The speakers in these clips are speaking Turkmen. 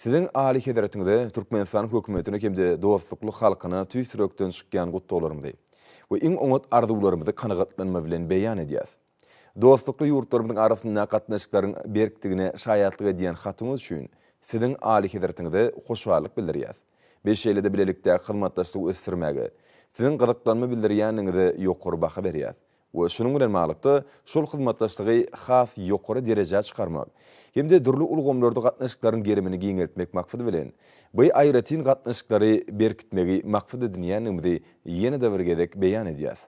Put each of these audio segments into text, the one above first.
Siziň Alyhezretiňize, Türkmenistanyň Hökümetine hem-de dostlukly halkyna tüýs ýürekden çykýan gutlaglarymyzy we iň oňat arzuwlarymyzy kanagatlanma bilen beýan edýäs. Dostlukly ýurtlarymyzyň arasyndaky gatnaşyklaryň berkdigine şaýatlyk edýän hatyňyz üçin Siziň Alyhezretiňize hoşallyk bildirýäs we şeýle-de bilelikdäki hyzmatdaşlygy ösdürmäge Siziň gyzyklanma bildirýäniňize ýokary baha berýäs we şunuň bilen baglykda şol hyzmatdaşlygy has ýokary derejä çykarmak hem-de dürli ulgamlarda gatnaşyklaryň gerimini giňeltmek maksady bilen, bu aýratyn gatnaşyklary berkitmegi maksat edinýändigimizi ýene-de bir gezek beýan edýäs.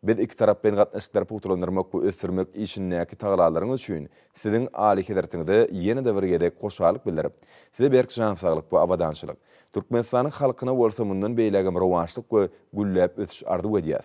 Biz ikitaraplaýyn gatnaşyklary pugtalandyrmak we ösdürmek işindäki tagalalaryňyz üçin Siziň Alyhezretiňize ýene-de bir gezek hoşallyk bildirip, Size berk jan saglyk we abadançylyk, Türkmenistanyň halkyna bolsa mundan beýlägem rowaçlyk we gülläp ösüş arzuw edýäs.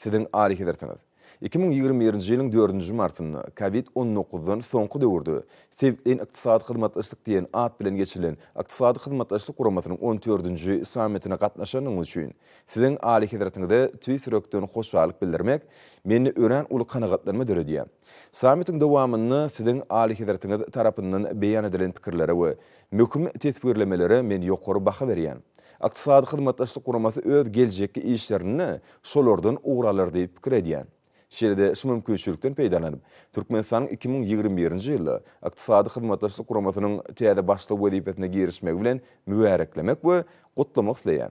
Siziň Alyhezretiňiz iki müň ýigrimi birinji ýylyň dördünji martynda Covid on dokuzdan soňky döwürde Sebitleýin ykdysady hyzmatdaşlyk diýen at bilen geçirilen Ykdysady Hyzmatdaşlyk Guramasynyň on dördünji sammitine gatnaşanyňyz üçin Siziň Alyhezretiňize tüýs ýürekden hoşallyk bildirmek mende örän uly kanagatlanma döredýär. Sammitiň dowamynda Siziň Alyhezretiňiz tarapyndan beýan edilen pikirlere we möhüm teswirlemelere men ýokary baha berýän. Ykdysady Hyzmatdaşlyk Guramasy öz geljekki işlerinde şolardan ugur alar diýip pikir edýän. Şeýle-de şu mümkinçilikden peýdalanyp, Türkmenistanyň iki müň ýigrimi birinji ýylda Ykdysady Hyzmatdaşlyk Guramasynyň täze başlygy wezipesine girişmegi bilen mübäreklemek we gutlamak isleýän.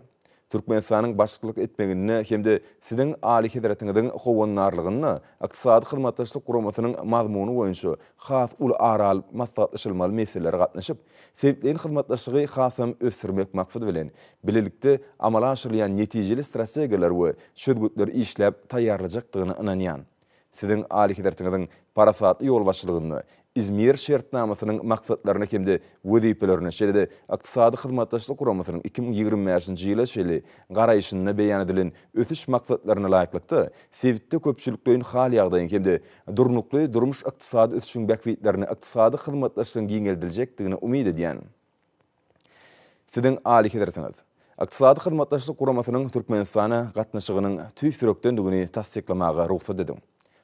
Türkmenistanyň başlyklyk etmeginde hem-de Siziň Alyhezretiňiziň howandarlygynda Ykdysady Hyzmatdaşlyk Guramasynyň mazmuny boýunça has uly ara alyp maslahatlaşylmaly meselelere gatnaşyp, Sebitleýin hyzmatdaşlygy hasam ösdürmek maksady bilen, bilelikde amala aşyrylýan netijeli strategiýalar we çözgütler işläp taýýarlajakdygyna ynanýan. Siziň Alyhezretiňiziň parasatly ýolbaşçylygynda Izmir şertnamasynyň maksatlaryna hem-de wezipelerine, şeýle-de Ykdysady Hyzmatdaşlyk Guramasynyň iki müň ýigrimi bäşinji ýyla çenli garaýşynda beýan edilen ösüş maksatlaryna laýyklykda sebitde köpçülikleýin hal-ýagdaýyň hem-de durnukly durmuş-ykdysady ösüşiň bähbitlerine ykdysady hyzmatdaşlygyň giňeldiljekdigine umyt edýän Siziň Alyhezretiňiz Ykdysady Hyzmatdaşlyk Guramasynyň Türkmenistana gatnaşygynyň tüýs ýürekdendigini tassyklamaga rugsat ediň.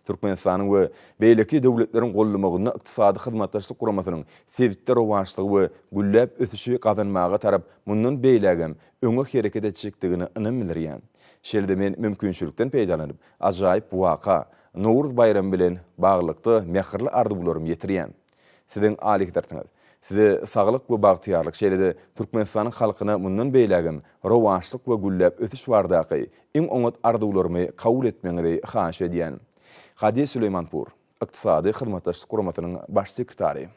Türkmenistanyň we beýleki döwletleriň gollamagynda Ykdysady Hyzmatdaşlyk Guramasynyň sebitde rowaçlygy we gülläp ösüşi gazanmaga tarap mundan beýlägem öňe hereket etjekdigine ynam bildirýän. Şeýle-de men mümkinçilikden peýdalanyp, ajaýyp waka, Nowruz baýramy bilen baglylykda mähirli arzuwlarymy ýetirýän. Siziň alyhadratyňyz, size saglyk we bagtyýarlyk şeýle-de Türkmenistanyň halkyna mundan beýlägem rowaçlyk we gülläp ösüş bardaky iň oňat arzuwlarymy kabul etmegiňizi haýyş edýän. Hadiýa Süleýmanpur, Ykdysady Hyzmatdaşlyk Guramasynyň Baş sekretary.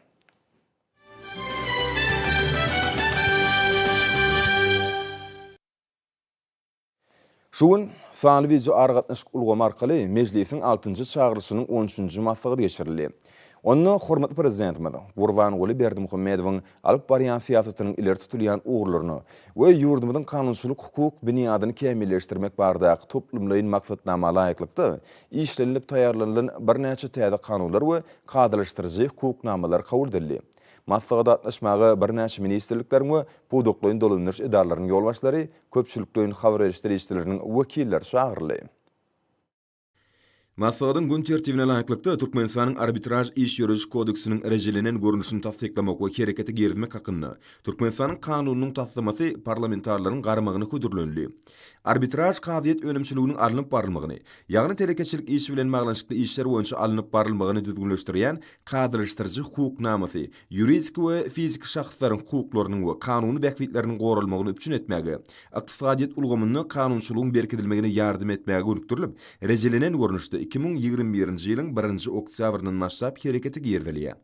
Şu gün sanly wideoaragatnaşyk ulgamy arkaly Mejlisiň altynjy çagyrylyşynyň on üçünji maslahaty geçirildi. Onda hormatly Prezidentimiz Gurbanguly Berdimuhamedowyň alyp barýan syýasatynyň ileri tutulýan ugurlaryny we ýurdumyzyň kanunçylyk-hukuk binýadyny kämilleşdirmek baradaky toplumlaýyn maksatnama laýyklykda işlenilip taýýarlanylan birnäçe täze kanunlar we kadalaşdyryjy hukuk namalar kabul edildi. Maslahata gatnaşmaga birnäçe ministrlikleriň we pudaklaýyn dolandyryş edaralarynyň ýolbaşçylary, köpçülikleýin habar beriş serişdeleriniň wekilleri çagyryldy. Maslahatyň gün tertibine laýyklykda, Türkmenistanyň Arbitraž iş ýörediş kodeksiniň rejelenen görnüşini tassyklamak we herekete girizmek hakynda Türkmenistanyň Kanunynyň taslamasy parlamentarileriň garamagyna hödürlenildi. Arbitraž kazyýet önümçiliginiň alnyp barylmagyny, ýagny telekeçilik işi bilen baglanyşykly işler boýunça alnyp barylmagyny düzgünleşdirýän kadalaşdyryjy hukuk namasy, ýuridik we fiziki şahslaryň hukuklarynyň we kanuny bähbitleriniň goralmagyny üpjün etmäge, ykdysadyýet ulgamynda kanunçylygyň berkidilmegine ýardam etmäge gönükdirilip, rejelenen görnüşde iki müň ýigrimi birinji ýylyň birinji oktýabryndan başlap herekete girizilýär.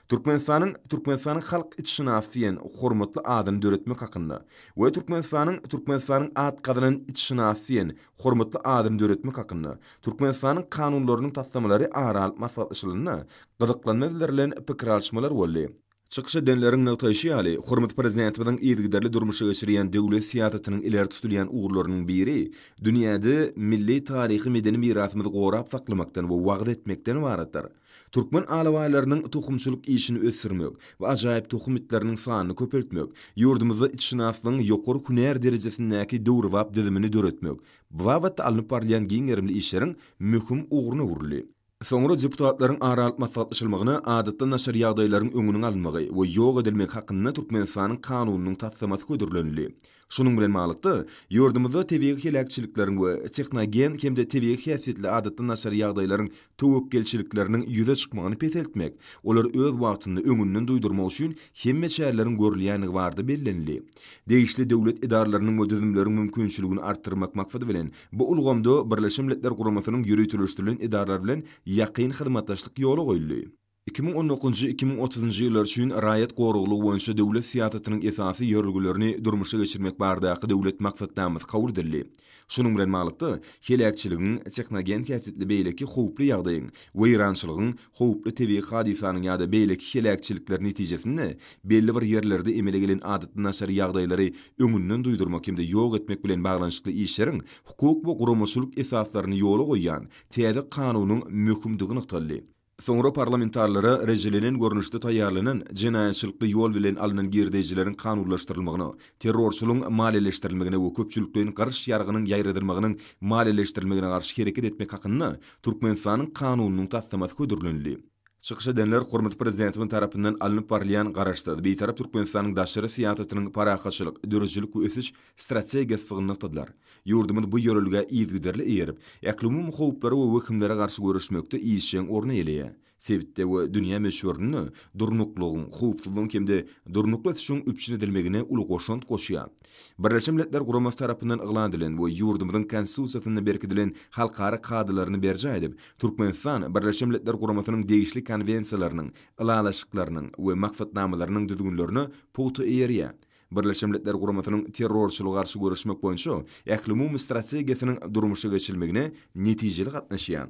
Türkmenistanyň Türkmenistanyň halk itşynasy diýen hormatly adyny döretmek hakynda we Türkmenistanyň Türkmenistanyň atgazanan itşynasy diýen hormatly adyny döretmek hakynda Türkmenistanyň Kanunlarynyň taslamalary ara alyp maslahatlaşylanda gyzyklanma bildirilen pikir alyşmalar boldy. Çykyş edenleriň nygtaýşy ýaly, hormatly Prezidentimiziň yzygiderli durmuşa geçirýän döwlet syýasatynyň ileri tutulýan ugurlarynyň biri dünýäde milli taryhy-medeni mirasymyzy gorap saklamakdan we wagyz etmekden ybaratdyr. Türkmen alabaýlarynyň tohumçylyk işini ösdürmek we ajaýyp tohum itleriniň sanyny köpeltmek, ýurdumyzda itşynaslygyň ýokary hünär derejesindäki döwrebap düzümini döretmek babatda alnyp barylýan giň gerimli işleriň möhüm ugruna öwrüldi. Soňra deputatlaryň araalyp maslahatlaşylmagyna adatdan daşary ýagdaýlaryň öňüniň alynmagy we ýok edilmegi hakynda Türkmenistanyň Kanunynyň taslamasy hödürlenildi. Şunuň bilen baglylykda, ýurdumyzda tebigy heläkçilikleriň we tehnogen hem-de tebigy häsiýetli adatdan daşary ýagdaýlaryň töwekgelçilikleriniň ýüze çykmagyny peseltmek, olary öz wagtynda öňünden duýdurmak üçin hemme çäreleriň görülýändigi barada bellenildi. Degişli döwlet edaralarynyň we düzümleriň mümkinçiligini artdyrmak maksady bilen, bu ulgamda Birleşen Milletler Guramasynyň ýöriteleşdirilen edaralary bilen ýakyn hyzmatdaşlyk ýola goýuldy. Iki müň on dokuzynjy-iki müň otuzynjy ýyllar üçin raýat goraglygy boýunça döwlet syýasatynyň esasy ýörelgelerini durmuşa geçirmek baradaky döwlet maksatnamsy kabul edildi. Şunuň bilen baglylykda, heläkçiligiň, tehnogen häsiýetli beýleki howply ýagdaýyň, weýrançylygyň, howply tebigy hadysanyň ýa-da beýleki heläkçilikler netijesinde belli bir ýerlerde emele gelen adatdan daşary ýagdaýlary öňünden duýdurmak hem-de ýok etmek bilen baglanyşykly işleriň hukuk we guramaçylyk esaslaryny ýola goýýan täze Kanunyň möhümdigi nygtaldy. Soňra parlamentarilere rejelenen görnüşde taýýarlanan jenaýatçylykly ýol bilen alnan girdeýjileriň kanunlaşdyrylmagyna, terrorçylygyň maliýeleşdirilmegine we köpçülikleýin garyş ýargynyň ýaýradylmagynyň maliýeleşdirilmegine garşy hereket etmek hakynda Türkmenistanyň Kanunynyň taslamasy hödürlenildi. Çykyş edenler hormatly Prezidentimiz tarapyndan alnyp barylýan Garaşsyz, Bitarap Türkmenistanyň daşary syýasatynyň parahatçylyk, döredijilik we ösüş, strategiýasy sygnakdydylar. Ýurdumyz bu ýörelgä yzygiderli eýerip, ählumumy howplara we wehimlere garşy göreşmekde işjeň orun eýeleýär. Sebitde we dünýä möçberinde durnuklylygyň, howpsuzlygyň hem-de durnukly ösüşiň üpjün edilmegine uly goşant goşýar. Birleşen Milletler Guramasy tarapyndan yglan edilen we ýurdumyzyň Konstitusiýasynda berkidilen halkara kadalaryny berjaý edip, Türkmenistan Birleşen Milletler Guramasynyň degişli konwensiýalarynyň, ylalaşyklarynyň we maksatnamalarynyň düzgünlerine pugta eýerýär. Birleşen Milletler Guramasynyň terrorçylyga garşy göreşmek boýunça ählumumy strategiýasynyň durmuşa geçirilmegine netijeli gatnaşýar.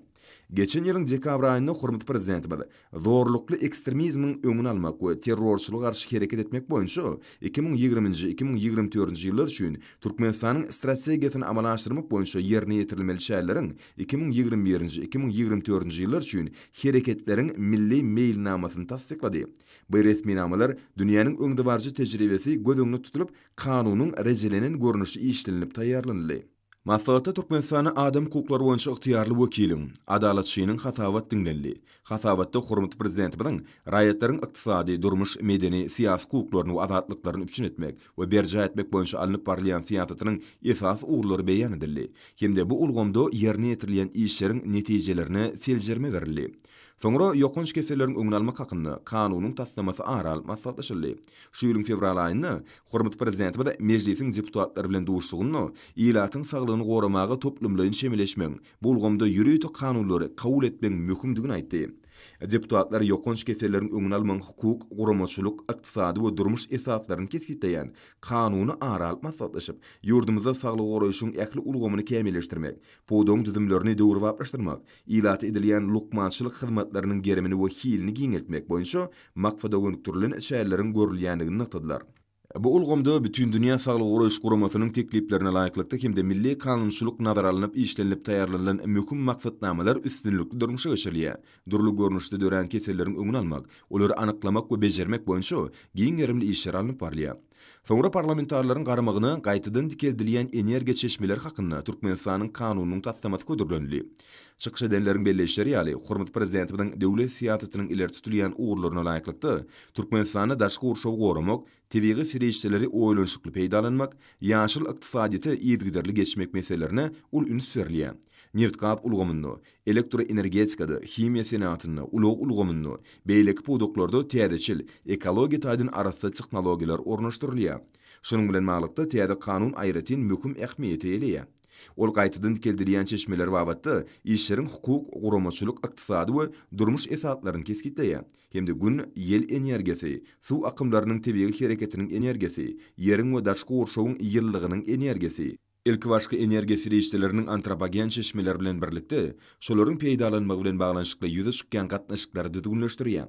Geçen ýylyň dekabr aýynda hormatly Prezidentimiz Zorlukly ekstremizmiň öňüni almak we terrorçylyga garşy hereket etmek boýunça iki müň ýigrimi nji, iki müň ýigrimi dördünji ýyllar üçin Türkmenistanyň Strategiýasyny amala aşyrmak boýunça ýerine ýetirilmeli çäreleriň iki müň ýigrimi birinji, iki müň ýigrimi dördünji ýyllar üçin hereketleriň milli meýilnamasyny tassyklady. Bu resminamalar dünýäniň öňdebaryjy tejribesi göz öňünde tutulyp, kanunyň rejelenen görnüşi işlenilip taýýarlanyldy. Maslahatda Türkmenistanda adam hukuklary boýunça ygtyýarly wekiliň, Adalatçynyň hasabat diňlenildi. Hasabatda hormatly Prezidentimiziň raýatlaryň ykdysady, durmuş, medeni, syýasy hukuklaryny we azatlyklaryny üpjün etmek we berjaý etmek boýunça alnyp barylýan syýasatynyň esasy ugurlary beýan edildi hem-de bu ulgamda ýerine ýetirilýän işleriň netijelerine seljerme berildi. Soňra ýokanç keselleriň öňüni almak hakynda Kanunyň taslamasy ara alnyp maslahatlaşyldy. Şu ýylyň fewral aýynda hormatly Prezidentimiz Mejlisiň deputatlary bilen duşuşygynda ilatyň saglygyny goramaga toplumlaýyn çemeleşmegiň, bu ulgamda ýörite kanunlary kabul etmegiň möhümdigini aýtdy. Deputatlar ýokanç keselleriň öňüni almagyň hukuk, guramaçylyk, ykdysady we durmuş esaslaryny kesgitleýän Kanuny ara alyp maslahatlaşyp, ýurdumyzda saglygy goraýşyň ähli ulgamyny kämilleşdirmek, Pudagyň düzümlerini döwrebaplaşdyrmak, ilata edilýän lukmançylyk hyzmatlarynyň gerimini we hilini giňeltmek boýunça maksada gönükdirilen çäreleriň görülýändigini nygtadylar. Bu ulgamda Bütindünýä Saglygy Goraýyş Guramasynyň tekliplerine laýyklykda hem-de milli kanunçylyk nazara alnyp işlenilip taýýarlanylan möhüm maksatnamalar üstünlikli durmuşa geçirilýär, dürli görnüşde dörän keselleriň öňüni almak, olary anyklamak we bejermek boýunça giň gerimli işler alnyp barylýar. Soňra parlamentarileriň garamagyna gaýtadan dikeldilýän energiýa çeşmeleri hakynda Türkmenistanyň Kanunynyň taslamasy hödürlenildi. Çykyş edenleriň belleýişleri ýaly, hormatly Prezidentimiziň döwlet syýasatynyň ileri tutulýan ugurlaryna laýyklykda, Türkmenistanda daşky gurşawy goramak, tebigy serişdeleri oýlanyşykly peýdalanmak, ýaşyl ykdysadyýete yzygiderli geçmek meselelerine uly üns berilýär. Nebitgaz ulgamynda, elektroenergetikada, himiýa senagatynda, ulag ulgamynda, beýleki pudaklarda täzeçil, ekologiýa taýdan arassa tehnologiýalar ornaşdyrylýar. Şunuň bilen baglylykda, täze kanun aýratyn möhüm ähmiýete eýe. Ol gaýtadan dikeldilýän çeşmeler babatda işleriň hukuk, guramaçylyk, ykdysady we durmuş esaslaryny kesgitleýär hem-de Gün, ýel energiýasy, suw akymlarynyň tebigy hereketiniň energiýasy, ýeriň we daş gurşawyň ýylylygynyň energiýasy, Ilkibaşky energiýa serişdeleriniň antropogen çeşmeler bilen birlikde, şolaryň peýdalanmagy bilen baglanyşykly ýüze çykýan gatnaşyklary düzgünleşdirýär.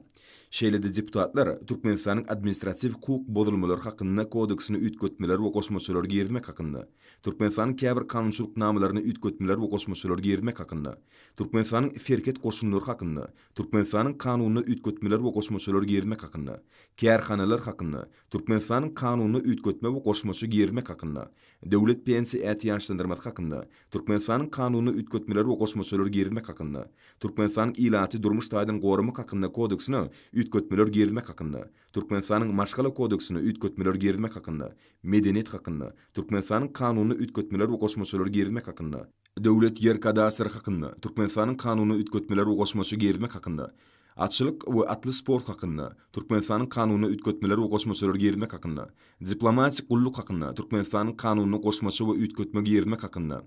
Şeýle-de deputatlar Türkmenistanyň Administratiw hukuk bozulmalar hakynda kodeksine üýtgetmeler we goşmaçalar girizmek hakynda, Türkmenistanyň käbir kanunçylyk namalaryna üýtgetmeler we goşmaçalar girizmek hakynda, Türkmenistanyň serhet goşunlary hakynda, Türkmenistanyň Kanunyna üýtgetmeler we goşmaçalar girizmek hakynda, Kärhanalar hakynda, Türkmenistanyň Kanunyna üýtgetme we goşmaça girizmek hakynda, Döwlet pensiýa ätiýaçlandyrmasy hakynda, Türkmenistanyň Kanunyna üýtgetmeler we goşmaçalar girizmek hakynda, Türkmenistanyň Ilaty durmuş taýdan goramak hakynda Kodeksine üýtgetmeler girizmek hakynda, Türkmenistanyň Maşgala kodeksine üýtgetmeler girizmek hakynda, Medeniýet hakynda, Türkmenistanyň Kanunyna üýtgetmeler we goşmaçalar girizmek hakynda, Döwlet ýer kadastry hakynda, Türkmenistanyň Kanunyna üýtgetmeler we goşmaça girizmek hakynda, Atçylyk we atly sport hakynda, Türkmenistanyň Kanunyna üýtgetmeler we goşmaçalar girizmek hakynda, Diplomatik gulluk hakynda, Türkmenistanyň Kanunyna goşmaça we üýtgetme girizmek hakynda,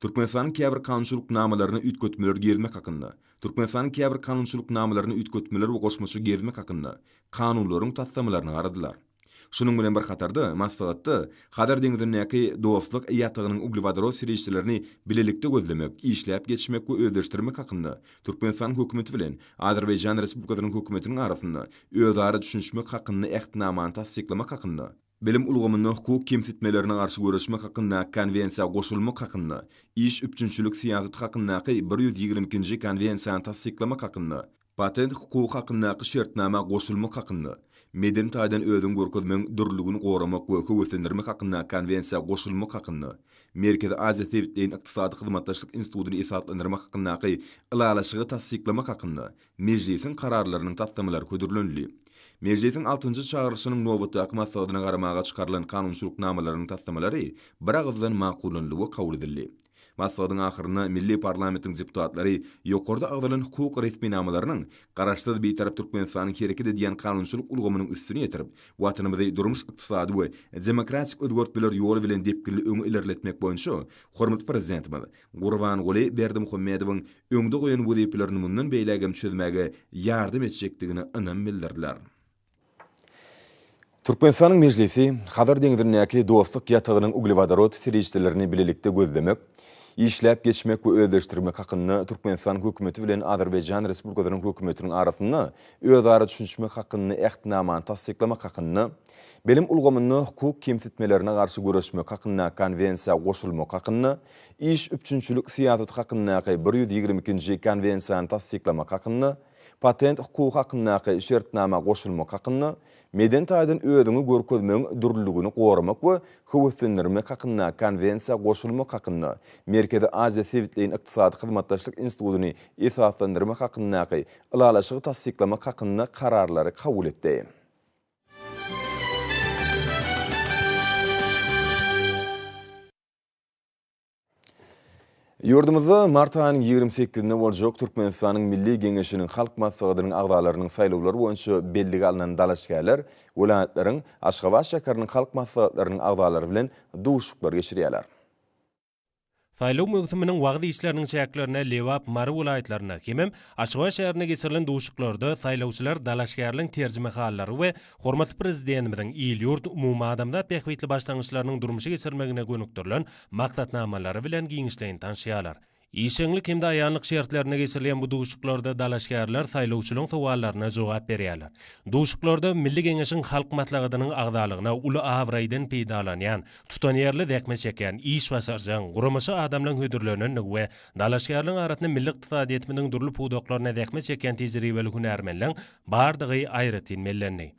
Türkmenistanyň käbir kanunçylyk namalaryna üýtgetmeler girizmek hakynda, Türkmenistanyň käbir kanunçylyk namalaryna üýtgetmeler we goşmaça girizmek hakynda Kanunlaryň taslamalaryny garadylar. Şunuň bilen bir hatarda, maslahatda Hazar deňzindäki Dostluk ýatagynyň uglewodorod serişdelerini bilelikde gözlemek, işläp geçmek we özleşdirmek hakynda Türkmenistanyň Hökümeti bilen Azerbaýjan Respublikasynyň Hökümetiniň arasynda özara düşünişmek hakynda Ähtnamany tassyklamak hakynda, Bilim ulgamynda hukuk kemsitmelerine garşy göreşmek hakyndaky Konwensiýa goşulmak hakynda, Iş üpjünçilik syýasaty hakyndaky bir ýüz ýigrimi ikinji Konwensiýany tassyklamak hakynda, Patent hukugy hakyndaky şertnama goşulmak hakynda, Medeni taýdan özüňi görkezmegiň dürlüligini goramak we höweslendirmek hakyndaky konwensiýa goşulmak hakynda, Merkezi Aziýa sebitleýin ykdysady hyzmatdaşlyk institutyny esaslandyrmak hakyndaky Ylalaşygy tassyklamak hakynda Mejlisiň kararlarynyň taslamalary hödürlenildi. Mejlisiň altynjy çagyryşynyň nobatdaky maslahatyna garamaga çykarylan kanunçylyk namalarynyň taslamalary biragyzdan makullanyldy we kabul edildi. Maslahatyň ahyrynda milli parlamentiň deputatlary ýokarda agzalan hukuk resminamalarynyň Garaşsyz, Bitarap Türkmenistanyň hereket edýän kanunçylyk ulgamynyň üstüni ýetirip, Watanymyzy durmuş-ykdysady we demokratik özgertmeler ýoly bilen depginli öňe ilerletmek boýunça hormatly Prezidentimiz Gurbanguly Berdimuhamedowyň öňde goýan wezipelerini mundan beýlägem çözmäge ýardam etjekdigine ynam bildirdiler. Türkmenistanyň Mejlisi Hazar deňzindäki Dostluk ýatagynyň uglewodorod serişdelerini bilelikde gözlemek, işläp geçmek we özleşdirmek hakynda Türkmenistanyň Hökümeti bilen Azerbaýjan Respublikasynyň Hökümetiniň arasynda özara düşünişmek hakynda Ähtnamany tassyklamak hakynda Bilim ulgamynda hukuk kemsitmelerine garşy göreşmek hakyndaky Konwensiýa goşulmak hakynda iş üpjünçilik syýasaty hakyndaky bir ýüz ýigrimi ikinji Konwensiýany tassyklamak hakynda Patent hukugy hakyndaky şertnama goşulmak hakynda, Medeni taýdan özüňi görkezmegiň dürlüligini goramak we höweslendirmek hakyndaky Konwensiýa goşulmak hakynda, Merkezi Aziýa sebitleýin ykdysady hyzmatdaşlyk institutyny esaslandyrmak hakyndaky Ylalaşygy tassyklamak hakynda Kararlary kabul etdi. Ýurdumyzda mart aýynyň ýigrimi sekizinde boljak Türkmenistanyň Milli Geňeşiniň Halk Maslahatynyň agzalarynyň saýlawlary boýunça bellige alnan dalaşgärler welaýatlaryň, Aşgabat şäheriniň halk maslahatlarynyň agzalary bilen duşuşyklar geçirýärler. Saýlaw möwsüminiň wagyz işleriniň çäklerinde Lebap, Mary welaýatlarynda hemem Aşgabat şäherinde geçirilen duşuşyklarda saýlawçylar dalaşgärliň terjimehallary we Hormatly Prezidentimiziň il-ýurt, umumadamzat bähbitli başlangyçlarynyň durmuşa geçirilmegine gönükdirilen maksatnamalary bilen giňişleýin tanşýarlar. Işjeňlik hem-de aýanlyk şertlerinde geçirilýän bu duşuşyklarda dalaşgärler saýlawçylaryň sowallaryna jogap berýärler. Duşuşyklarda Milli Geňeşiň Halk Maslahatynyň agzalygyna uly abraýdan peýdalanýan, tutanýerli zähmet çekýän, işbaşarjaň, guramaçy adamlaryň hödürlenendigi we dalaşgärleriň arasynda milli ykdysadyýetimiziň dürli pudaklaryna zähmet çekýän tejribeli hünärmenleriň bardygy aýratyn bellendi.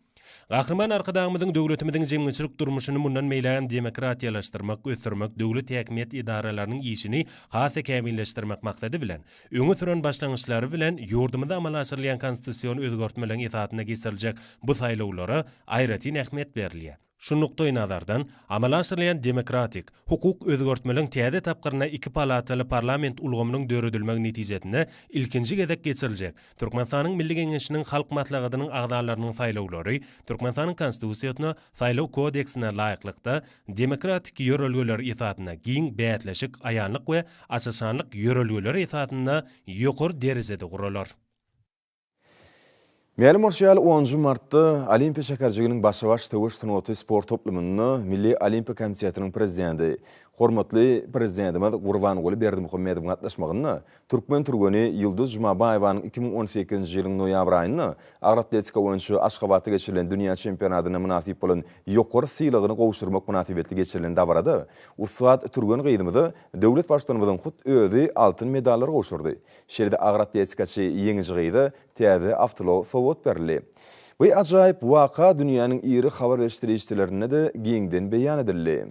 Gahryman Arkadagymyzyň döwletimiziň jemgyýetçilik durmuşyny mundan beýläk hem demokratiýalaşdyrmak, ösdürmek, döwlet häkimiýet edaralarynyň işini has-da kämilleşdirmek maksady bilen, öňe süren başlangyçlary bilen ýurdumyzda amala aşyrylýan konstitusion özgertmeleriň esasynda geçiriljek bu saýlawlara aýratyn ähmiýet berilýär. Şu nukdaýnazardan, amala aşyrylýan demokratik, hukuk özgertmeliň täze tapgyryna iki palataly parlament ulgamynyň döredilmegi netijesinde ilkinji gezek geçiriljek Türkmenistanyň Milli Geňeşiniň Halk Maslahatynyň agzalarynyň saýlawlary Türkmenistanyň Konstitusiýasyna, Saýlaw kodeksine laýyklykda, demokratik ýörelgeler esasynda giň bäsleşik, aýanlyk we açyşanlyk ýörelgeleri esasynda ýokary derejede guralar. Mälim bolşy ýaly, onunjy martda Olimpiýa şäherjiginiň Başa-baş söweş sungaty sport toplumynda Milli Olimpiýa komitetiniň prezidenti, hormatly Prezidentimiz Gurbanguly Berdimuhamedowyň gatnaşmagynda türkmen türgeni Ýulduz Jumabaýewanyň iki müň on sekizinji ýylyň noýabr aýynda agyr atletika boýunça Aşgabatda geçirilen dünýä çempionatyna mynasyp bolan ýokary sylagyny gowşurmak mynasybetli geçirilen dabarada ussat türgen gyzymyza döwlet Baştutanymyzyň hut özi altyn medallary gowşurdy. Şeýle-de agyr atletikaçy ýeňiji gyza täze awtoulag sowgat berildi. Bu ajaýyp waka dünýäniň iri habar beriş serişdelerinde-de giňden beýan edildi.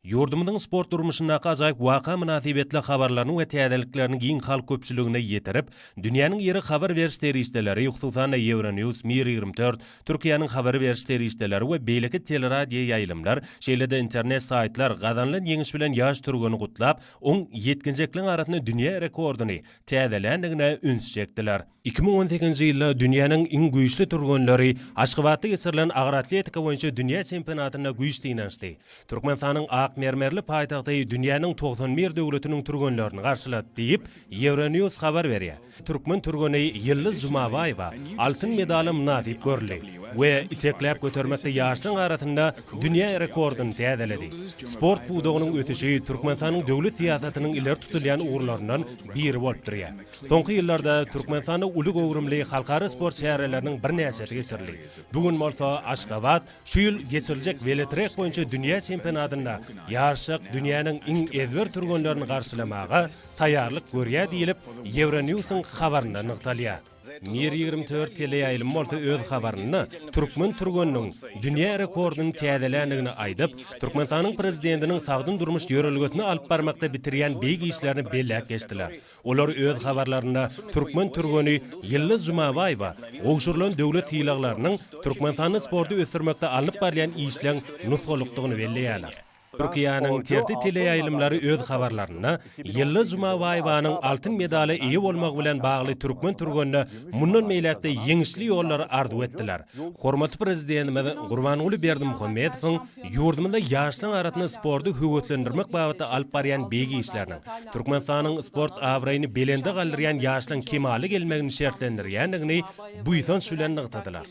Ýurdumyzyň sport durmuşyndaky ajaýyp waka mynasybetli habarlaryny we täzeliklerini giň halk köpçüligine ýetirip, dünýäniň iri habar beriş serişdeleri, hususan-da, Euronews, Mir ýigrimi dört, Türkiýäniň habar beriş serişdeleri we beýleki teleradioýaýlymlar, şeýle-de internet saýtlar gazanylan ýeňiş bilen ýaş türgeni gutlap, oň ýetginjekliň arasynda dünýä rekordyny täzeländigine üns çekdiler. Iki müň on sekizinji ýylda dünýäniň iň güýçli türgenleri Aşgabatda geçirilen agyr atletika boýunça dünýä çempionatynda güýç synanyşdy. Türkmenistanyň ak mermerli paýtagty dünýäniň togsan bir döwletiniň türgenlerini garşylat, diýip, Euronews habar berýär. Türkmen türgeni Ýyldyz Jumabaýewa altyn medala mynasyp görüldi we itekläp götermekde ýaşlaryň arasynda dünýä rekordyny täzeledi. Sport pudagynyň ösüşi Türkmenistanyň döwlet syýasatynyň ileri tutulýan ugurlaryndan biri bolup durýar. Soňky ýyllarda Türkmenistanda uly göwrümli halkara sport çäreleriniň birnäçesi geçirildi. Bu gün bolsa Aşgabat, Şu ýyl geçiriljek weletrek boýunça dünýä çempionatynda ýaryşjak dünýäniň iň ezber türgenlerini garşylamaga taýýarlyk görýär diýlip, Ýewronews-yň habarynda nygtalýar. Mir ýigrimi dört teleýaýlym bolsa öz habarynda türkmen türgeniniň dünýä rekordyny täzeländigini aýdyp, Türkmenistanyň Prezidentiniň sagdyn durmuş ýörelgesini alyp barmakda bitirýän beýik işlerini belläp geçdiler. Olar öz habarlarynda türkmen türgeni Ýyldyz Jumabaýewa gowşurylan döwlet sylaglarynyň Türkmenistanda sporty ösdürmekde alnyp barylýan işleň nusgalykdygyny belleýärler. Türkiýäniň TRT teleýaýlymlary öz habarlarynda Ýyldyz Jumabaýewanyň altyn medala eýe bolmagy bilen bagly türkmen türgenine mundan beýläk-de ýeňişli ýollary arzuw etdiler, hormatly Prezidentimiz Gurbanguly Berdimuhamedowyň Ýurdumyzda ýaşlaryň arasynda sporty höweslendirmek babatda alyp barýan beýik işleriniň, Türkmenistanyň sport abraýyny belende galdyrýan ýaşlaryň kemala gelmegini şertlendirýändigini buýsanç bilen nygtadylar.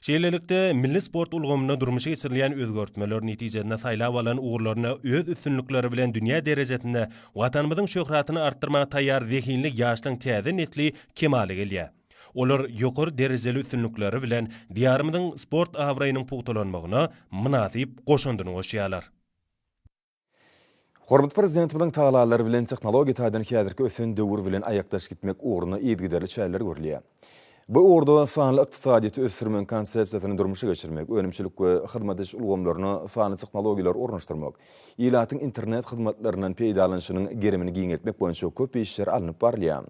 Şeýlelikde, milli sport ulgamynda durmuşa geçirilýän özgertmeler netijesinde saýlap alan ugurlarynda öz üstünlikleri bilen dünýä derejesinde Watanymyzyň şöhratyny artdyrmaga taýýar zehinli ýaşlaryň täze nesli kemala gelýär. Olar ýokary derejeli üstünlikleri bilen Diýarymyzyň sport abraýynyň pugtalanmagyna mynasyp goşandyny goşýarlar. Hormatly Prezidentimiziň tagallalary bilen tehnologiýa taýdan häzirki ösen döwür bilen aýakdaş gitmek ugrunda yzygiderli çäreler görülýär. Bu ugurda sanly ykdysadyýeti ösdürmegiň konsepsiýasyny durmuşa geçirmek, önümçilik we hyzmat ediş ulgamlaryna sanly tehnologiýalary ornaşdyrmak, ilatyň internet hyzmatlaryndan peýdalanyşynyň gerimini giňeltmek boýunça köp işler alnyp barylýar.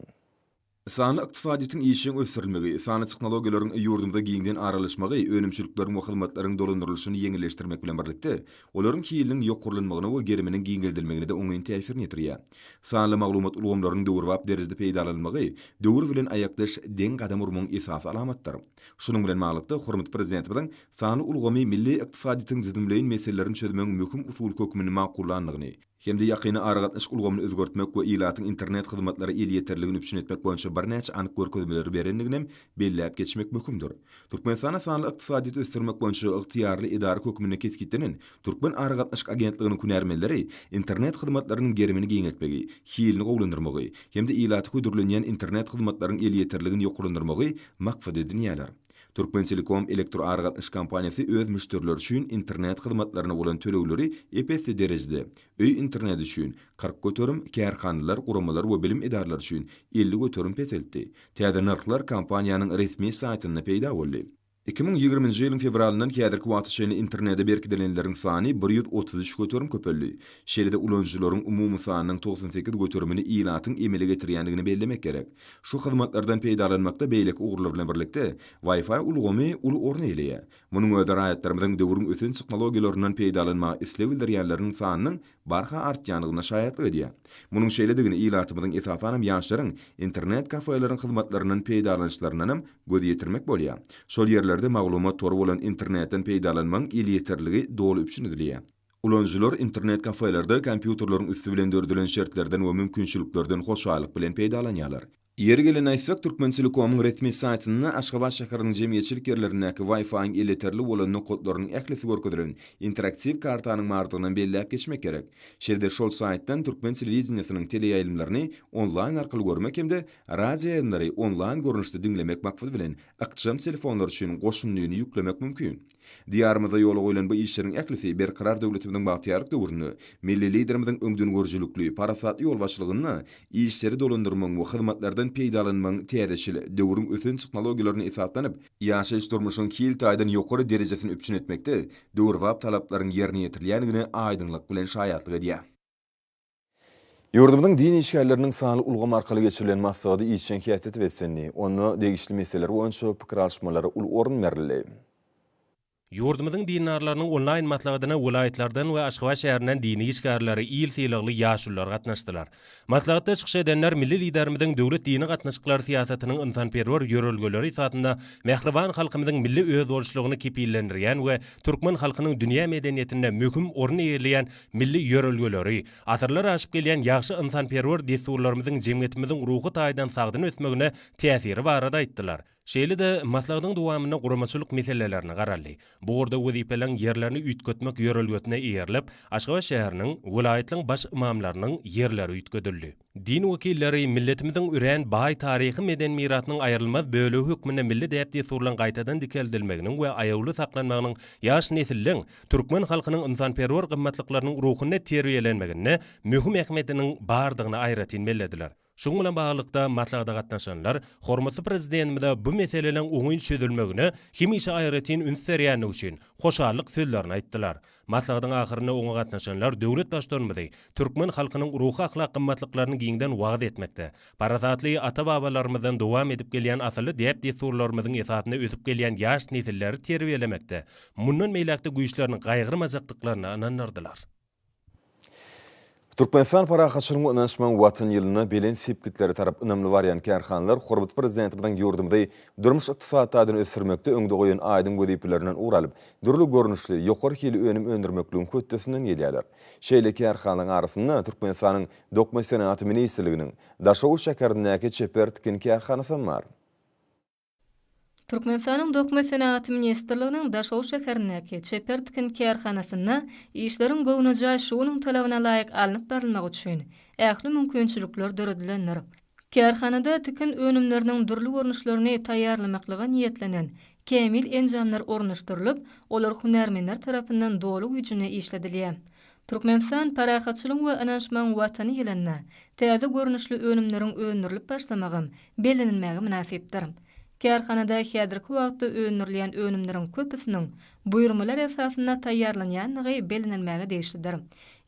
Sanly ykdysadyýetiň işjeň ösdürilmegi, sanly tehnologiýalaryň ýurdumyza giňden aralaşmagy önümçilikleriň we hyzmatlaryň dolandyrylyşyny ýeňilleşdirmek bilen birlikde, olaryň hiliniň ýokarlanmagyna we geriminiň giňeldilmegine-de oňyn täsirini ýetirýär. Sanly maglumat ulgamlarynyň döwrebap derejede peýdalanylmagy döwür bilen aýakdaş deň gadam urmagyň esasy alamatydyr. Şunuň bilen baglylykda, hormatly Prezidentimiziň sanly ulgamy milli ykdysadyýetiň düzümleýin meselelerini çözmegiň möhüm usuly hökmünde makullandygyny, hem-de ýakyn aragatnaşyk ulgamyny özgertmek we ilatyň internet hyzmatlara elýeterliligini üpjün etmek boýunça birnäçe anyk görkezmeleri berendigini hem belläp geçmek möhümdir. Türkmenistana sanly ykdysadyýeti ösdürmek boýunça ygtyýarly edara hökmünde kesgitlenen Türkmen aragatnaşyk agentliginiň hünärmenleri internet hyzmatlarynyň gerimini giňeltmegi, hilini gowulandyrmagy hem-de ilata hödürlenýän internet hyzmatlaryň elýeterligini ýokarlandyrmagy maksat edinýärler. Türkmentelekom elektroaragatnaşyk kompaniýasy öz müşderileri üçin internet hyzmatlaryna bolan tölegleri ep-esli derejede, öý interneti üçin, kyrk göterim, kärhanalar, guramalar we bilim edaralary üçin, elli göterim peseltdi. Täze nyrhlar kompaniýanyň resmi saýtynda peýda boldy. Iki müň ýigriminji ýylyň fewralyndan häzirki wagta çenli internete berkidilenleriň sany bir ýüz otuz üç göterim köpeldi. Şeýle-de ulanyjylaryň umumy sanynyň togsan sekiz göterimini ilatyň emele getirýändigini bellemek gerek. Şu hyzmatlardan peýdalanmakda beýleki ugurlar bilen birlikde, Wi-Fi ulgamy uly orun eýeleýär. Munuň özi raýatlarymyzyň döwrüň ösen tehnologiýalaryndan peýdalanmaga isleg bildirýänleriniň sanynyň barha artýandygyna şaýatlyk edýär. Munuň şeýledigini ilatymyzyň, esasanam ýaşlaryň internet-kafeleriň hyzmatlaryndan peýdalanyşlaryndan hem göz ýetirmek bolýar. Şol ýerlerde maglumat tory bolan internetden peýdalanmagyň elýeterligi doly üpjün edilýär. Ulanyjylar internet-kafelerde kompýuterleriň üsti bilen döredilen şertlerden we mümkinçiliklerden hoşallyk bilen peýdalanýarlar. Ýeri gelende aýtsak, Türkmentelekomyň resmi saýtynda Aşgabat şäheriniň jemgyýetçilik ýerlerindäki Wi-Fi-iň elýeterli bolan nokatlarynyň ählisi görkezilen interaktiw kartanyň bardygynam belläp geçmek gerek. Şeýle-de şol saýtdan türkmen telewideniýesiniň teleýaýlymlaryny onlaýn arkaly görmek hem-de radioýaýlymlary onlaýn görnüşde diňlemek maksady bilen ykjam telefonlar üçin goşundyny ýüklemek mümkin. Diýarymyzda ýola goýlan bu işleriň ählisi Berkarar döwletimiziň bagtyýarlyk döwründe milli Liderimiziň öňdengörüjilikli, parasatly ýolbaşçylygynda işleri dolandyrmagyň we hyzmatlardan peýdalanmagyň täzeçil, döwrüň ösen tehnologiýalaryna esaslanyp, ýaşaýyş-durmuşyň hil taýdan ýokary derejesini üpjün etmekde döwrebap talaplaryň ýerine ýetirilýändigine aýdyňlyk bilen şaýatlyk edýär. Ýurdumyzyň din işgärleriniň sanly ulgam arkaly geçirilen maslahady işjeň häsiýete beslendi, onda degişli meseleler boýunça pikir alyşmalara uly orun berildi. Ýurdumyzyň dindarlarynyň onlaýn maslahatyna welaýatlardan we Aşgabat şäherinden dini işgärleri, il sylagly ýaşulular gatnaşdylar. Maslahatda çykyş edenler milli Liderimiziň döwlet dini gatnaşyklary syýasatynyň ynsanperwer ýörelgeleri esasynda mähriban halkymyzyň milli özboluşlygyny kepillendirýän we türkmen halkynyň dünýä medeniýetinde möhüm orun eýeleýän milli ýörelgeleri, asyrlar aşyp gelýän ýagşy ynsanperwer dessurlarymyzyň jemgyýetimiziň ruhy taýdan sagdyn ösmegine täsiri barada aýtdylar. Şeýle-de, maslahatyň dowamynda guramaçylyk meselelerine garaldy. Bu ugurda wezipeleriň ýerlerini üýtgetmek ýörelgesine eýerilip, Aşgabat şäheriniň, welaýatlaryň baş ymamlarynyň ýerleri üýtgedildi. Din wekilleri milletimiziň örän baý taryhy-medeni mirasynyň aýrylmaz bölegi hökmünde milli däp-dessurlaryň gaýtadan dikeldilmeginiň we aýawly saklanmagynyň ýaş nesliň türkmen halkynyň ynsanperwer gymmatlyklarynyň ruhunda terbiýelenmeginde möhüm ähmiýetiniň bardygyny aýratyn bellediler. Şunuň bilen baglylykda, maslahata gatnaşanlar hormatly Prezidentimize bu meseleleriň oňyn çözülmegine hemişe aýratyn üns berýändigi üçin hoşallyk sözlerini aýtdylar. Maslahatyň ahyrynda oňa gatnaşanlar döwlet Baştutanymyzy türkmen halkynyň ruhy-ahlak gymmatlyklaryny giňden wagyz etmekde, parasatly ata-babalarymyzdan dowam edip gelýän asylly däp-dessurlarymyzyň esasynda ösüp gelýän ýaş nesilleri terbiýelemekde mundan beýläk-de güýçlerini gaýgyrmajakdyklaryna ynandyrdylar. Türkmenistan parahatçylygyň we ynanyşmagyň Watan ýylynda belent sepgitlere tarap ynamly barýan kärhanalar hormatly Prezidentimiziň ýurdumyzy durmuş-ykdysady taýdan ösdürmekde öňde goýan aýdyň wezipelerinden ugur alyp, dürli görnüşli, ýokary hilli önüm öndürmekligiň hötdesinden gelýärler. Şeýle kärhanalaryň arasynda Türkmenistanyň Dokma senagaty ministrliginiň Daşoguz şäherindäki çeper tikin kärhanasy hem bar. Türkmenistanyň Dokma senagaty ministrliginiň Daşoguz şäherindäki Çeper tikin kärhanasynda işleriň göwnejaý şu günüň talabyna laýyk alnyp barylmagy üçin ähli mümkinçilikler döredilendir. Kärhanada tikin önümleriniň dürli görnüşlerini taýýarlamaklyga niýetlenen kämil enjamlar ornaşdyrylyp, olar hünärmenler tarapyndan doly güýjünde işledilýär. Türkmenistan Parahatçylygyň we ynanyşmagyň Watany ýylynda täze görnüşli önümleriň öndürilip başlamagam bellenilmäge mynasypdyr. Kärhanada häzirki wagtda öndürilýän önümleriň köpüsiniň buýurmalar esasynda taýýarlanýandygy bellenilmäge degişlidir.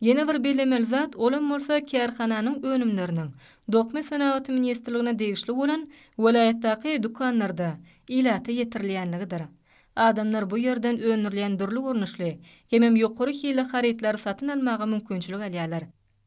Ýene bir bellemeli zat, olam bolsa kärhananyň önümleriniň Dokma senagaty ministrligine degişli bolan welaýatdaky dükanlarda ilata ýetirilýänligidir. Adamlar bu ýerden öndürilýän dürli görnüşli, hemem ýokary hilli harytlary satyn almaga mümkinçilik alýarlar.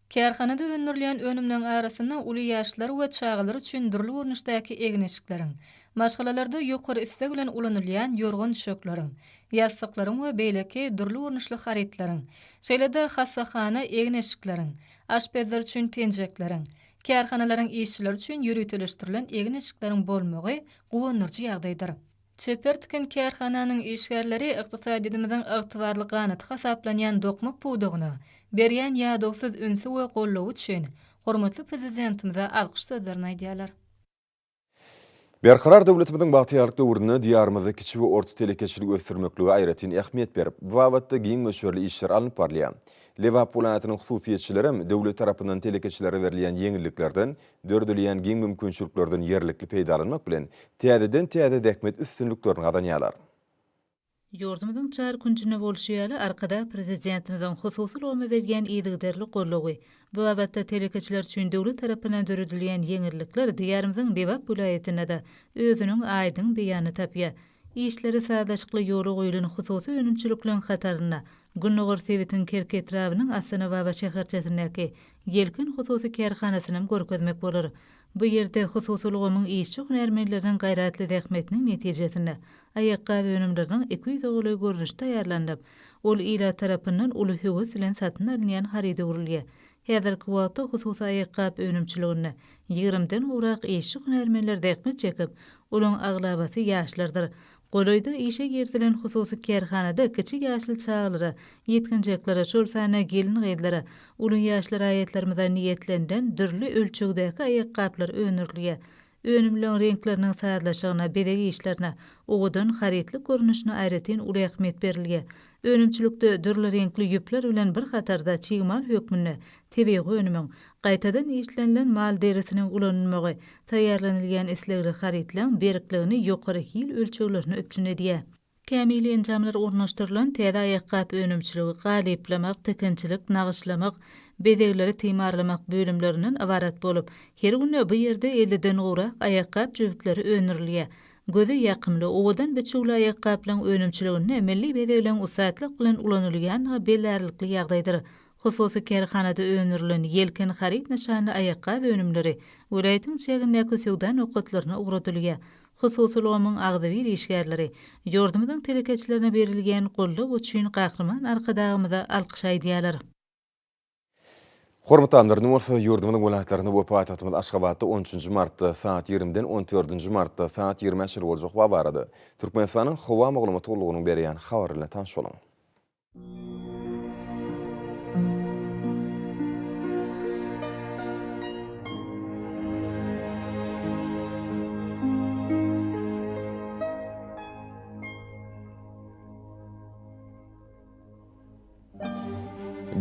Kärhanada öndürilýän önümleriň arasynda uly ýaşlar we çagalar üçin dürli görnüşdäki egin-eşikleriň, maşgalalarda ýokary isleg bilen ulanylýan ýorgan-düşekleriň, ýassyklaryň we beýleki dürli görnüşli harytlaryň, şeýle-de hassahana egin-eşikleriň, aşpezler üçin penjekleriň, kärhanalaryň işçileri üçin ýöriteleşdirilen egin-eşikleriň bolmagy guwandyryjy ýagdaýdyr. Çeper tikin kärhananyň işgärleri ykdysadyýetimiziň ygtybarly ganaty hasaplanýan dokma pudagyna berýän ýadawsyz ünsi we goldawy üçin hormatly Prezidentimize alkyş sözlerini aýdýarlar. Berkarar döwletimiziň bagtyýarlyk döwründe Diýarymyzda kiçi we orta telekeçiligi ösdürmeklige aýratyn ähmiýet berip, bu babatda giň möçberli işler alnyp barylýar. Lebap welaýatynyň hususyýetçilerem döwlet tarapyndan telekeçilere berilýän ýeňilliklerden Döredilýän giň mümkinçiliklerden ýerlikli peýdalanmak bilen, täzeden-täze zähmet üstünliklerini gazanýarlar. Ýurdumyzyň çar künjünde bolşy ýaly, Arkadag Prezidentimiziň hususy ulgama berýän yzygiderli goldawy, bu babatda telekeçiler üçin döwlet tarapyndan döredilýän ýeňillikler Diýarymyzyň Lebap welaýatynda-da özüniň aýdyň beýanyny tapýar. Işleri sazlaşykly ýola goýlan hususy önümçilikleriň hatarynda Gündogar sebitiň Kerki etrabynyň Astanababa şäherçesindäki Ýelken hususy kärhanasynam görkezmek bolar. Bu ýerde hususy ulgamyň işçi hünärmenleriniň gaýratly zähmetiniň netijesinde, aýakgap önümleriniň iki ýüze golaý görnüşi taýýarlanylyp, ol ilat tarapyndan uly höwes bilen satyn alynýan haryda öwrülýär. Häzirki wagtda hususy aýakgap önümçiliginde ýigrimi den gowrak işçi hünärmenler zähmet çekip, olaryň aglabasy ýaşlardyr. Golaýda işe girizilen hususy kärhanada kiçi ýaşly çagalara, ýetginjeklere, şol sanda gelin-gyzlara, uly ýaşly raýatlarymyza niýetlenilen dürli ölçegdäki aýakgaplar öndürilýär. Önümleriň reňkleriniň sazlaşygyna, bezeg işlerine, owadan harytlyk görnüşine aýratyn uly ähmiýet berilýär. Önümçilikde dürli reňkli ýüpler bilen bir hatarda çig mal hökmünde tebigy önümiň, gaýtadan işlenilen mal derisiniň ulanylmagy taýýarlanylýan islegli harytlaryň berkligini ýokary hil ölçeglerine üpjün edýär. Kämil enjamlar ornaşdyrylan täze aýakgap önümçiligi galyplamak, tikinçilik, nagyşlamak, bezegleri timarlamak bölümlerinden ybarat bolup, her günde bu ýerde elliden gowrak aýakgap jübütleri öndürilýär. Göze ýakymly, owadan biçüwli aýakgaplaryň önümçiliginde milli bezegleň ussatlyk bilen ulanylýandygy bellärlikli ýagdaýdyr. Hususy kärhanada öndürilen Ýelken haryt nyşanly aýakgap önümleri welaýatyň çägindäki söwda nokatlaryna ugradylýar. Hususy ulgamyň agzybir işgärleri ýurdumyzyň telekeçilerine berilýän goldaw üçin Gahryman Arkadagymyza alkyş aýdýarlar. Hormatlanlar, indi bolsa ýurdumyzyň welaýatlarynda we paýtagtymyz Aşgabatda on üçünji martda sagat ýigrimiden on dördünji martda sagat ýigrimä çenli boljak howa barada Türkmenistanyň howa maglumat gullugynyň berýän habary bilen tanyş boluň.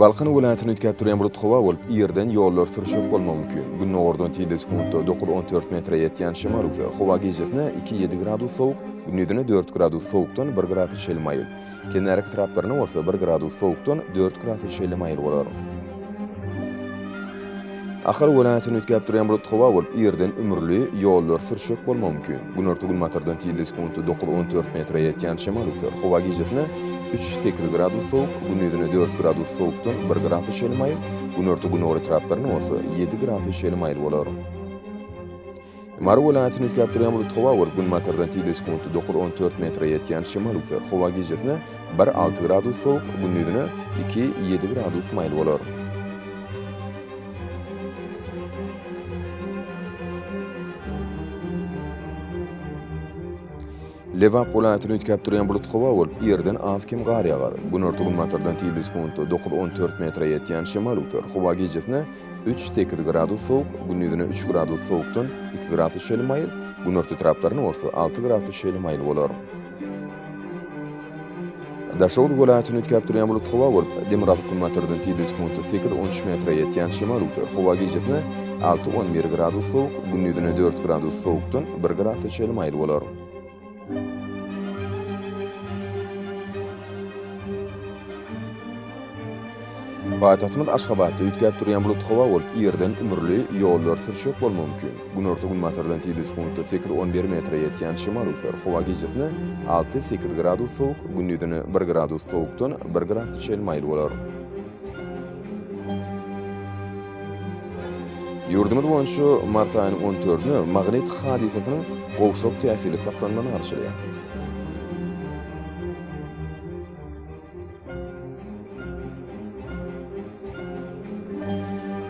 Balkan welaýatyny üýtgäp durýan bulut howa bolup, ýerden ýollar sürşüp bolmagy mümkin. Gündogardan tizde sekuntda dokuz on dört metre ýetýän şemal ugsa, howa gijesine iki ýedi gradus sowuk, gündizine dört gradus sowukdan bir gradus çenli maýyl, kenarýaka etraplaryna bolsa bir gradus sowukdan dört gradus çenli maýyl bolar. Ahal welaýatyny üýtgäp durýan bulut howa bolup, irden ümürli, ýollar sürçek bolmagy mümkin. Günorta-günbatardan tizligi sekuntda dokuz-on dört metre ýetýän şemal üzer. Howa gijesine üç, sekiz gradus sowuk, gündiziňe dört gradus sowukdan bir gradus çenli maýyl, günorta-gündogar etraplaryna bolsa ýedi gradus çenli maýyl bolar. Mary welaýatyny üýtgäp durýan bulut howa we günbatardan tizligi sekuntda dokuz, on dört metre ýetýän şemal üzer. Howa gijesine bir, alty gradus sowuk, gündizine iki, ýedi gradus maýyl bolar. Lebap welaýatyny üýtgäp durýan bulut howa bolup, ýerden az-kem gar ýagar. Günorta-günbatardan tizligi sekuntda dokuz-on dört metre ýetýän şemal öwser. Howa gijesine üç-sekiz gradus sowuk, gündizine üç gradus sowukdan iki gradus şeýle maýyl, günorta etraplaryna bolsa alty gradus şeýle maýyl bolar. Daşoguz welaýatyny üýtgäp durýan bulut howa bolup, demirgazyk günbatardan tizligi sekunta sekiz, on üç metre ýetýän şemal öwser. Howa gijesine alty, on bir gradus sowuk, gündizine dört gradus sowukdan bir grasa çenli maýyl bolar. Paýtagtymyz Aşgabatda üýtgäp durýan bulutly howa bolup, ýerden ümürli, ýollar sürçek bolmagy mümkin. Günorta-günbatardan tizli sekuntda sekiz-on bir metre ýetýän şemal öser, howa gijesine alty-sekiz gradus sowuk, gündizine bir gradus sowukdan bir grasa çenli maýyl bolar. Ýurdumyz boýunça mart aýynyň on dördüne magnit hadysasynyň gowşak täsiri saklanmagyny arzuwlaýan.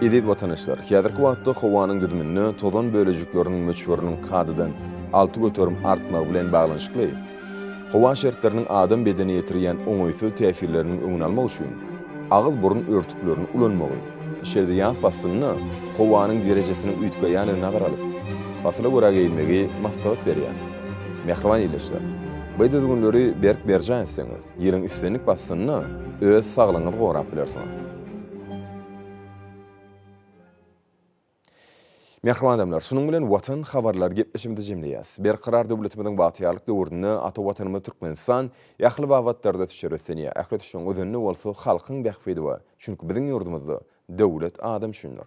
Eziz watandaşlar, häzirki wagtda howanyň düzüminde tozan bölejikleriniň möçberiniň kadadan alty göterim artmagy bilen baglanyşykly, howa şertleriniň adam bedenine ýetirýän oňaýsyz täsirleriniň öňüni almak üçin agyz-burun örtüklerini ulanmagy, şeýle-de ýaz paslynda howanyň derejesiniň üýtgeýändigini nazara alyp, pasyla görä geýinmegi maslahat berýäris. Mähriban ildeşler! Bu düzgünleri berk berjaý etseňiz, Ýylyň islendik paslynda öz saglygyňyzy gorap bilersiňiz. Mähriban adamlar, şunuň bilen Watan habarlary gepleşigimizi jemleýäs. Berkarar döwletimiziň bagtyýarlyk döwründe ata Watanymyz Türkmenistan ähli babatlarda düşer ösdünýär. Ähli ösüşiň özünde bolsa halkyň bähbidi bar. Çünki biziň ýurdumyzda Döwlet adam üçindir.